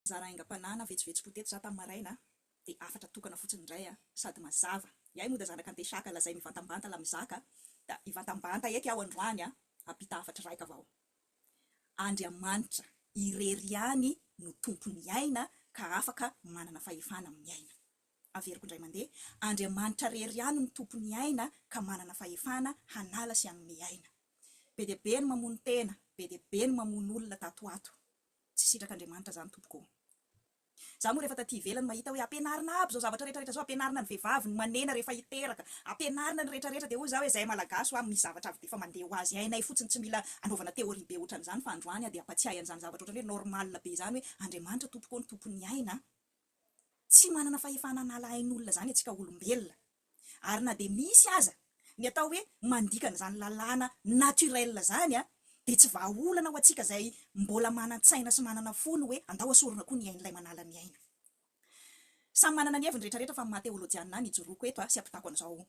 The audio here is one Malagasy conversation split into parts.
Nizara aingam-panahina vetsovetsom-po teto za tamin'ny maraina dia hafatra tokana fotsiny indray sady mazava. Iay moa da zanaka antesaka lazay mivantambanta la mizaka da hivantambanta eky aho androany hampita hafatra iraika avao. Andriamanitra irery ihany no tompon'ny aina ka afaka manana fahefana amin'ny aina. Averiko indray mandeha, Andriamanitra irery ihany no tompon'ny aina ka manana fahefana hanala sy hanome aina. Be dia be ny mamono tena, be dia be ny mamono olona tato ho ato. Tsy sitraka Andriamanitra zany tompoko ô! Za moa refa taty ivelany mahita hoe ampianarina aby zao zavatra rehetra rehetra zao ampianarina ny vevavy ny manena refa hiteraka ampianarina ny retra retra de hoy za hoe zahay malagasy wa misy zavatra avy defa mandeha ho azy hainay fotsiny tsy mila anaovana theorie be otran'izany fa androany a de ampatsiahy an'izany zavatra otrany hoe normal be zany hoe Andriamanitra tompoko ô ny tompon'ny aina a. Tsy manana fahefana hanala ain'olona izany antsika olombelona. Ary na dia misy aza ny atao hoe mandikana izany lalàna naturel izany dia tsy vahaolana ho antsika izay mbola manan-tsaina sy manana fo ny hoe andao asorina koa ny ain'ilay manala ny aina. Samy manana ny heviny rehetrarehetra fa ny maha teolojianina ahy ny ijoroako eto sy ampitako an'izao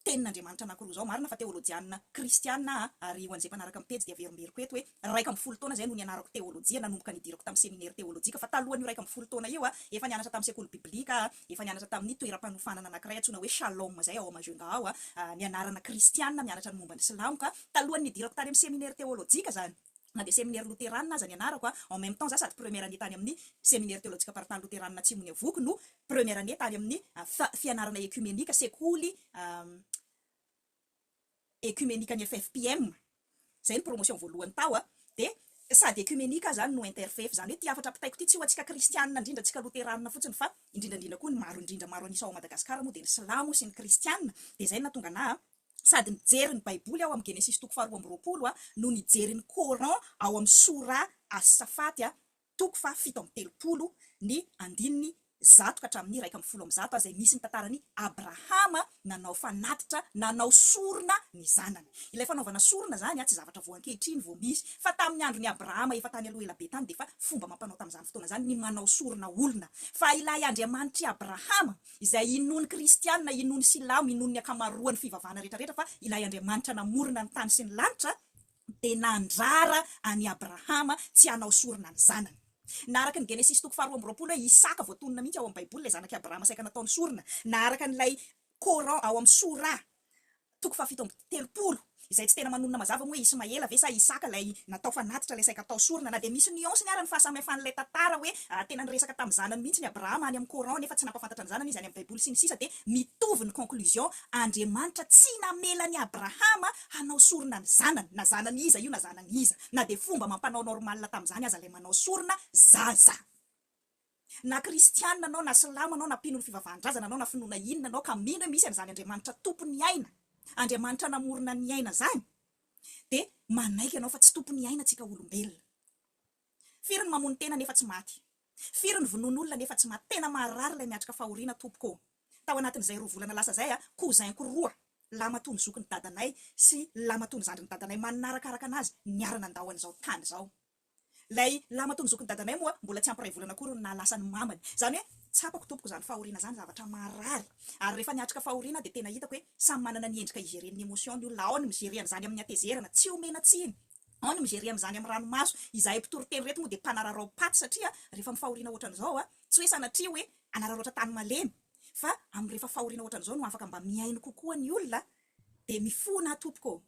Tenin'Andriamanitra anankiroa izao, marina fa teolojianina kristianina aho, ary ho an'izay mpanaraka ny pejy dia averimberiko eto hoe iraika ambin'ny folo taona izay no nianarako teolojia nanomboka nidirako tamin'ny seminera teolojika, fa talohan'io iraika ambin'ny folo taona io aho efa nianatra tamin'ny sekoly biblika aho, efa nianatra tamin'ny toeram-panofanana anankiray antsoina hoe Shalom izay ao Majunga ao, nianarana kristianina mianatra ny momba ny silamo ka talohan'ny nidirako tany amin'ny seminera teolojika izany. Na dia seminera loterana aza nianarako, en même temps za sady première année tany amin'ny Seminaire Teolojika Paritany Loterana Atsimon'i Avoky no première année tany amin'ny fianarana Ekumenika, sekoly Ekumenikan'ny FFPM, zay ny promotion voalohany tao, dia sady Ekumenika aho zany no interfef, zany hoe ty hafatra ampitaiko ty tsy ho antsika Kristianina indrindra, antsika Loterana fotsiny fa indrindra indrindra koa ny maro indrindra maro an'isa ao Madagascar moa dia ny Silamo sy ny Kristianina, dia zay no nahatonga anah sady nijery ny baiboly aho amin'ny Genesisy toko faharoa amby roapolo no nijery ny Coran ao amin'ny Sourah As-Saffat toko faha fito amby telopolo ny andininy zato ka hatramin'ny iraika amby folo amby zato izay misy ny tantaran'i Abrahama nanao fanatitra nanao sorona ny zanany. Ilay fanaovana sorona izany tsy zavatra vao ankehitriny vao misy fa tamin'ny andron'i Abrahama efa tany aloha ela be tany dia efa fomba amam-panao tamin'izany fotoana izany ny manao sorona olona fa ilay Andriamanitr'i Abrahama izay inoan'ny kristiana, inoan'ny silamo, inoan'ny ankamaroan'ny fivavahana rehetrarehetra fa ilay Andriamanitra namorona ny tany sy ny lanitra dia nandrara an'i Abrahama tsy hanao sorona ny zanany. Na araka ny Genesisy toko faharoa amby roapolo hoe Isaka voatonona mihitsy ao amin'ny Baiboly ilay zanak'i Abrahama saika nataony sorona, na araka an'ilay Coran ao amin'ny Sourah Toko fahafito amby telopolo, izay tsy tena manonona mazava moa hoe Ismaela ve sa Isaka ilay natao fanatitra ilay saika atao sorona, na dia misy nuance-ny ara ny fahasamihafan'ilay tantara hoe tena niresaka tamin'ny zanany mihitsy ny Abrahama any amin'ny Coran nefa tsy nampafantatra ny zanany izy any amin'ny Baiboly sy ny sisa dia mitovy ny conclusion Andriamanitra tsy namela an'i Abrahama hanao sorona ny zanany na zanany iza io na zanany iza na dia fomba amam-panao normal tamin'izany aza ilay manao sorona zaza. Na kristiana anao na silamo anao na mpino ny fivavahan-drazana anao na finoana inona anao ka mino hoe misy an'izany Andriamanitra tompon'ny aina, Andriamanitra namorona ny aina zany dia manaiky anao fa tsy tompon'ny aina tsika olombelona. Firy ny mamono tena nefa tsy maty? Firy ny vonoin'olona nefa tsy maty? Tena maharary ilay miatrika fahoriana tompoko ô! Tao anatin'izay roa volana lasa izay, cousin-ko roa lamatoa ny zokin'ny dadanay sy lamatoa ny zandrin'ny dadanay manarakaraka anazy niara nandao an'izao tany izao. Ilay lamatoa ny zokin'i dadanay moa mbola tsy ampy iray volana akory no naha lasa ny mamany. Izany hoe tsapako tompoko izany fahoriana izany zavatra marary. Ary rehefa niatrika fahoriana aho dia tena hitako hoe samy manana ny endrika higereny ny emotion ny olona. Ao ny mi-gerer an'izany amin'ny hatezerana, tsy omena tsiny. Ao ny mi-gerer an'izany amin'ny ranomaso. Izahay mpitory teny ireto moa dia mpanararaopaty satria rehefa amin'ny fahoriana ohatran'izao, tsy hoe sanatria hoe hanararaotra tany malemy fa amin'ny rehefa fahoriana ohatran'izao no afaka mba mihaino kokoa ny olona dia mifona aho tompoko ô.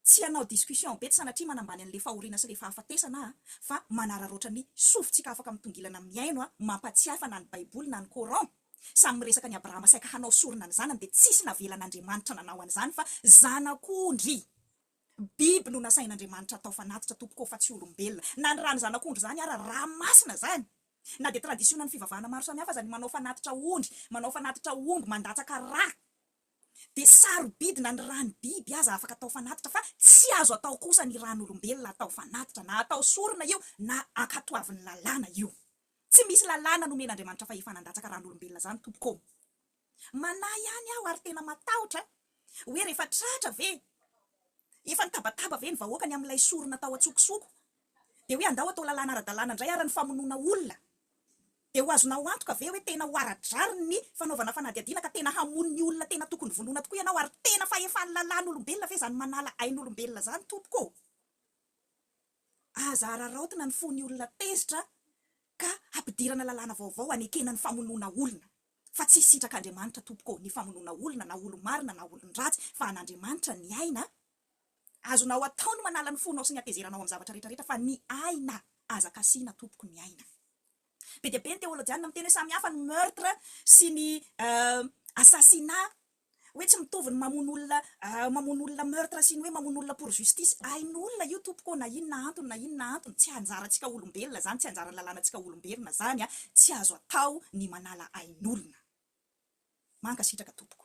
Tsy hanao discussion be tsy sanatria manambany an'le fahoriana sy le fahafatesana aho fa manararaotra ny sofintsika afaka mitongilana mihaino a mampatsiahy fa na ny baiboly na ny coran samy miresaka an'i Abrahama saika hanao sorona ny zanany dia tsisy navelan'Andriamanitra nanao an'izany fa zanak'ondry biby no nasain'Andriamanitra atao fanatitra tompoko ô fa tsy olombelona na ny rany zanak'ondry zany ara ra masina zany na dia traditionan'ny fivavahana maro samihafa aza ny manao fanatitra ondry manao fanatitra omby mandatsaka ra dia sarobidy na ny ràn'ny biby aza afaka atao fanatitra fa tsy azo atao kosa ny ràn'olombelona atao fanatitra na atao sorona io na ankatoavin'ny lalàna io. Tsy misy lalàna nomen'Andriamanitra fahefana handatsaka ràn'olombelona izany tompoko ô! Manahy ihany aho ary tena matahotra hoe rehefa tratra ve Efa nitabataba ve ny vahoaka ny amin'ilay sorona tao an-tsokosoko? Dia hoe andao atao lalàna ara-dalàna indray ary ny famonoana olona. Dia ho azonao antoka ve hoe tena ho ara-drariny ny fanaovana fanadihadiana ka tena hamono ny olona tena tokony vonoina tokoa ianao ary tena fahefan'ny lalàn'olombelona ve izany manala ain'olombelona izany tompoko ô? Aza araraotina ny fon'ny olona tezitra ka hampidirana lalàna vaovao hanekena ny famonoana olona. Fa tsy sitrak'Andriamanitra tompoko ô ny famonoana olona na olo-marina na olon-dratsy fa an'Andriamanitra ny aina a! Azonao atao ny manala ny fonao sy ny hatezeranao amin'ny zavatra rehetra rehetra fa ny aina aza kasihina tompoko ny aina. Be dia be ny teolojianina miteny hoe samy hafa ny meurtre sy ny assassinat. Hoe tsy mitovy ny mamono olona mamono olona meurtre sy ny hoe mamono olona pour justice. Hain'olona io tompoko ô, na inona antony na inona antony. Tsy anjarantsika olombelona izany, tsy anjaran'ny lalànantsika olombelona izany. Tsy azo atao ny manala ain'olona. Mankasitraka tompoko.